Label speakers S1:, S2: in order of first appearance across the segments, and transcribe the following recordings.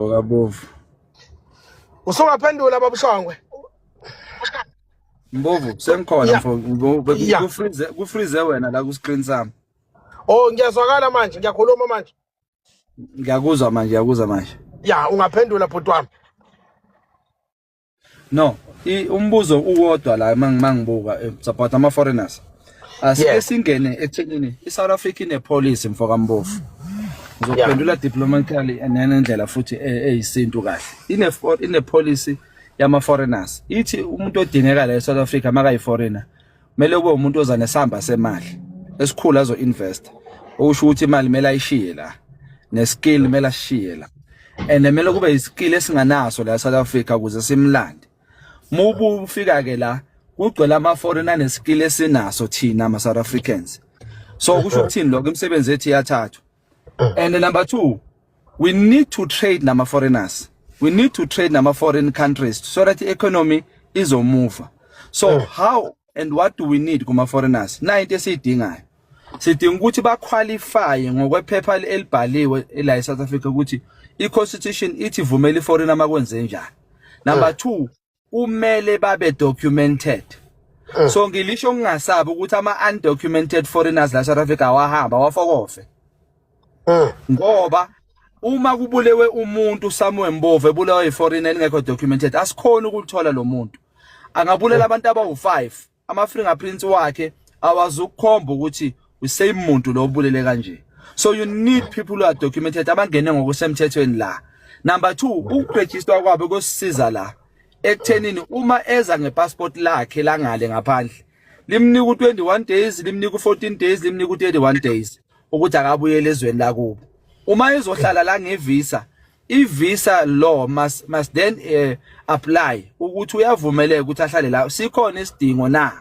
S1: Bovu.
S2: Usungaphendula baba Shongwe.
S1: Mbovu sengikhona mfo kufreeze kufreeze wena la ku screen sami. Oh
S2: ngiyazwakala manje ngiyakhuluma manje. Ngiyakuzwa
S1: manje ngiyakuzwa manje. Ya ungaphendula
S2: bhuti wami.
S1: no umbuzo uwodwa la mangibuka eh, support ama foreigners asike singene ekuthenini iSouth Africa ine policy mfoka Mbofu uzophendula diplomatically nenendlela futhi e, eyisintu kahle ine ine policy yama foreigners ithi umuntu odingeka la eSouth Africa makayi foreigner kumele kube umuntu oza nesamba semali esikhulu azo invest okusho ukuthi imali kumele ayishiye la ne skill kumele ashiye la and kumele kube iskill esinganaso la South Africa ukuze simlande mubu ufika ke la kugcwele ama foreigner ne skill esinaso thina ama South Africans so kusho ukuthini lokho imisebenzi ethi yathathwa and number 2 we need to trade nama foreigners we need to trade nama foreign countries so that economy izomuva so eh. how and what do we need kuma foreigners na into esiyidingayo sidinga ukuthi ba qualify ngokwephepha elibhaliwe la eSouth Africa ukuthi i constitution ithi vumela iforeigner makwenze njani number 2 eh. kumele babe documented eh. so ngilisho ngingasabi ukuthi ama undocumented foreigners la South Africa wahamba wafokofe eh. ngoba uma kubulewe umuntu Samuel Mbovu ebulewe iforeigner elingekho documented asikhona ukuthola lo muntu angabulela eh. abantu abawu5 ama-fingerprints wakhe awazukukhomba ukuthi usame muntu lo obulele kanje so you need people who are documented abangene ngokusemthethweni la number 2 ukuregister kwabo kosisiza la ekuthenini uma eza ngepassport lakhe langale ngaphandle limnika u21 days limnika u14 days limnika u31 days ukuthi akabuyele ezweni lakubo uma ezohlala la ngevisa i visa law must must then uh, apply ukuthi uyavumeleka ukuthi ahlale la sikhona isidingo na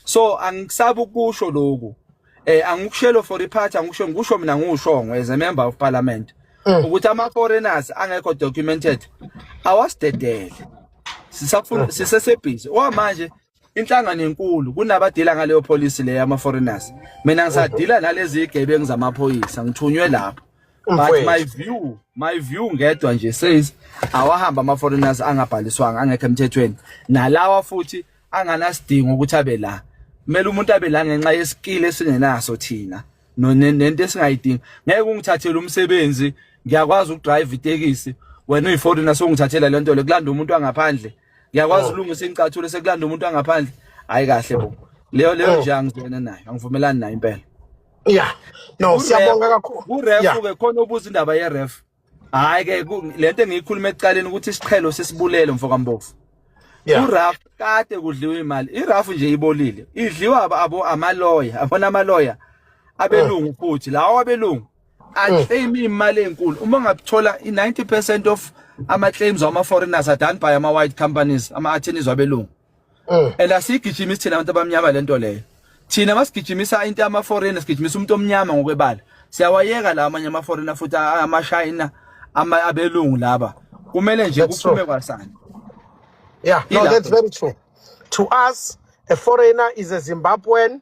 S1: so angisabu kusho lokhu eh angikushelo for iphathi angikusho ngikusho mina ngiwushongo as a member of parliament mm. ukuthi ama foreigners angekho documented awasidedele sisafuna mm. sisesebhizi owa manje inhlangano enkulu kunabadila ngaleyo policy leyo ama foreigners mina ngisadila nalezi igebengu zamaphoyisa ngithunywe lapho but my view my view ngedwa nje says awahamba ama foreigners angabhaliswanga angekho emthethweni nalawa futhi anganasidingo ukuthi abe la kumele umuntu abe la ngenxa yeskill esingenaso thina nento esingayidingi ngeke ungithathele umsebenzi ngiyakwazi ukudrive itekisi wena uyiforeigner songithathela lento le kulanda umuntu angaphandle ngiyakwazi oh. ulungisa incathulo sekulanda umuntu angaphandle hayi kahle bo leyo leyo oh. nje angizwena nayo angivumelani nayo impela yeah
S2: no siyabonga kakhulu uref ke khona
S1: ubuza indaba ye ref hayi ke lento engiyikhuluma ekuqaleni ukuthi isiqhelo sesibulele mfokambofu uraf kade kudliwa imali iraf nje ibolile idliwa abo amaloya abona amaloya abelungu ah. futhi lawo abelungu aclaim imali enkulu uma ungathola i90% of ama claims ama foreigners are done by ama white companies ama attorneys wabelungu mm. and asigijima isithina abantu abamnyama lento leyo thina masigijimisa into ama foreigners sigijimisa umuntu omnyama ngokwebala siyawayeka la amanye ama foreigner futhi ama China ama abelungu laba kumele nje kuphume kwasana yeah no that's
S2: very true to us a foreigner is a Zimbabwean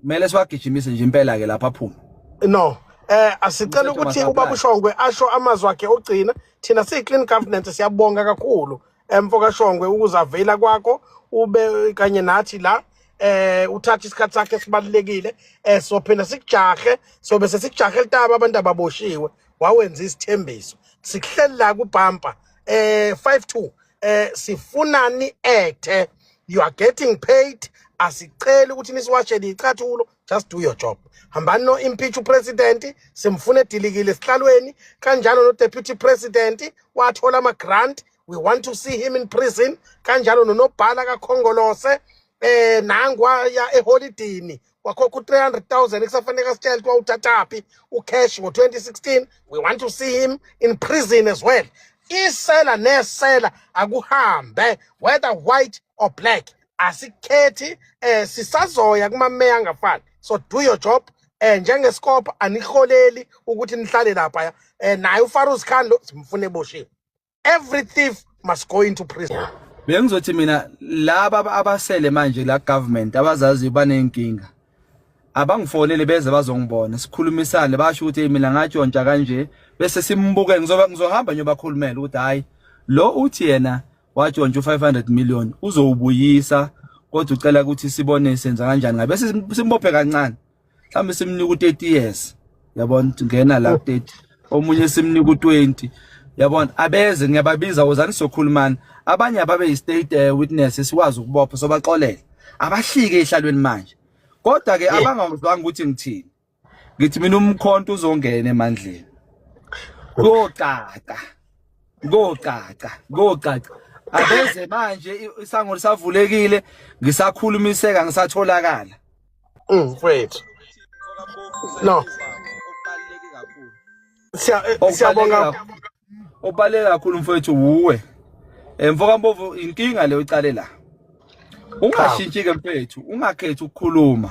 S2: kumele
S1: siwagijimise nje impela ke lapha aphume no eh
S2: asicela ukuthi ubaba uShongwe asho amazwi akhe ogcina thina siyi clean governance siyabonga kakhulu emfo kaShongwe ukuzavela kwakho ube kanye nathi la eh uthatha isikhathi sakhe sibalekile eh sophinda sikujahe sobe sesikujahe litaba abantu ababoshiwe wawenza isithembiso sikuhlelela kubhampa eh 52 eh sifunani actor you are getting paid asiceli ukuthi nisiwashele icathulo just do your job hambani no impeach upresident simfuna edilikile esihlalweni kanjalo no deputy president wathola ama grant we want to see him in prison kanjalo nonobhala kakhongolose eh nangu waya eholidini wakhokha u-300000 ekusafanele asitshele kuthiwa uthathaphi ucash ngo-2016 we want to see him in prison as well isela nesela akuhambe whether white or black asikhethi eh sisazoya kumameya angafani so do your job eh njengesikopha aniholeli ukuthi nihlale lapha eh naye uFarouz Khan lo simfune eboshiwe every thief must go into prison bengizothi mina
S1: laba abasele manje la government abazazi banenkinga abangifonele beze bazongibona sikhulumisane basho ukuthi mina ngatshontsha kanje bese simbuke ngizoba ngizohamba nyobakhulumela ukuthi hayi lo uthi yena watshontsha u500 million uzowubuyisa kodwa ucela ukuthi sibone senza kanjani ngabe simbophe kancane mhlawumbe simnika u-30 years yabona ngena la 30 omunye simnika u-20 yabona abeze ngiyababiza wozani sokhulumana abanye ababe yi-state eh, witness esikwazi ukubopha sobaxolela abahlike ehlalweni manje kodwa ke abangazwanga ukuthi ngithini ngithi mina umkhonto uzongena emandleni kocaca kocaca kocaca abeze manje isango lisavulekile ngisakhulumiseka ngisatholakala Mm,
S2: mfowethu. No. Siya eh, Okubaluleke siyabonga. kakhulu-
S1: Okubaluleke kakhulu mfowethu wuwe. Eh mfoka Mbovu inkinga leyo icale la. Ungashintshi ke mfowethu, ungakhethi ukukhuluma.